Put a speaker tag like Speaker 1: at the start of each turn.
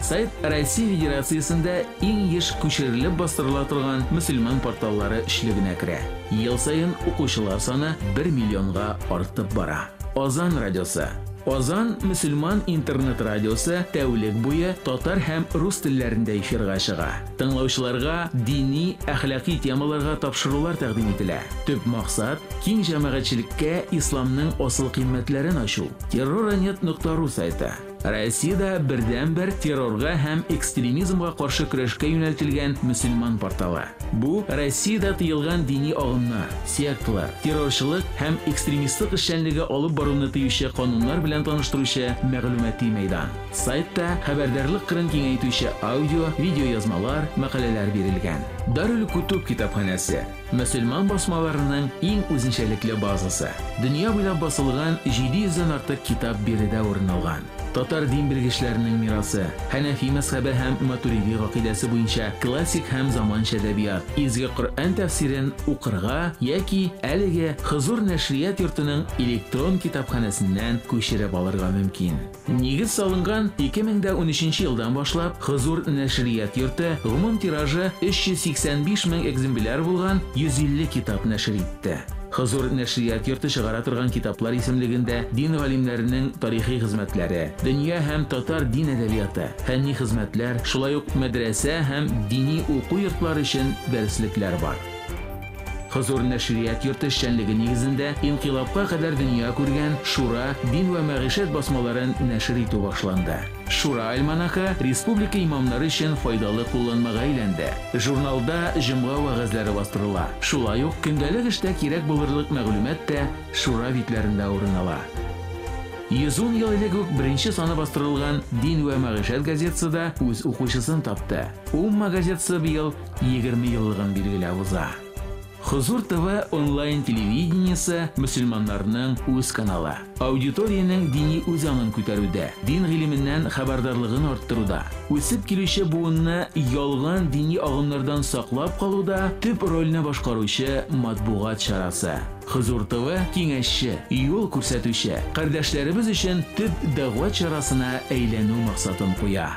Speaker 1: Сайт Россия Федерациясендә иң еш күчерелеп бастырыла торган мөселман порталлары өчлегенә керә. Ел саен укучылар саны 1 миллионга артып бара. Азан радиосы. Азан мөселман интернет-радиосы тәүлек буе татар һәм рус телләрендә эфирга чыга. Тыңлаучыларга дини, әхлакый темаларга тапшырулар тәкъдим ителә. Төп максат, киң җәмәгатьчелеккә исламның асыл кыйммәтләрен ачу. Терроранет нокта ру сайты. Россиядә бердәнбер террорга һәм экстремизмга каршы көрәшкә юнәлтелгән мөселман порталы. Бу Россиядә тыелган дини агымнар, секталар, террорчылык һәм экстремистлык эшчәнлеге алып баруны тыючы кануннар белән таныштыручы мәгълүмати мәйдан. Сайтта хәбәрдарлык кырын киңәйтүче аудио, видеоязмалар, мәкаләләр бирелгән. Дарүл-Кутуб китапханәсе. Мөселман басмаларының иң үзенчәлекле базасы. Дөнья буйлап басылган 700 дән артык китап биредә урын алган. Татар дин белгечләренең мирасы, Хәнәфи мәзхәбе һәм Матуриди гакыйдәсе буенча классик һәм заманча әдәбият, Изге Коръән тәфсирен укырга яки әлеге Хозур нәшрият йортының электрон китапханәсеннән күчереп алырга мөмкин. Нигез салынган 2013 нче елдан башлап Хозур нәшрият йорты гомум тиражы 385 мең экзембляр булган 150 китап нәшер итте. Хозур нәшрият йорты чыгара торган китаплар исемлегендә дин галимнәренең тарихи хезмәтләре, дөнья һәм татар дин әдәбияты, фәнни хезмәтләр, шулай ук мәдрәсә һәм дини уку йортлары өчен дәреслекләр бар. Хозур нәшрият йорты эшчәнлеге нигезендә инкыйлабка кадәр дөнья күргән Шура, Дин вә мәгыйшәт басмаларын нәшер итү башланды. Шура альманахы республика имамнары өчен файдалы кулланмага әйләнде. Журналда җомга вәгазьләре бастырыла. Шулай ук көндәлек эштә кирәк булырлык мәгълүмат та Шура битләрендә урын ала. Йөз ун ел элек үк беренче саны бастырылган Дин вә мәгыйшәт газетасы да үз укучысын тапты. Умма газетасы быел Егерме еллыгын билгеләп уза. Хозур ТВ онлайн телевидениесе мөселманнарның үз каналы. Аудиториянең дини үзаңын күтәрүдә, дин гыйлеменнән хәбәрдарлыгын арттыруда, үсеп килүче буынны ялган дини агымнардан саклап калуда төп рольне башкаручы матбугат чарасы. Хозур ТВ киңәшче, юл күрсәтүче, кардәшләребез өчен төп дәгъват чарасына әйләнү максатын куя.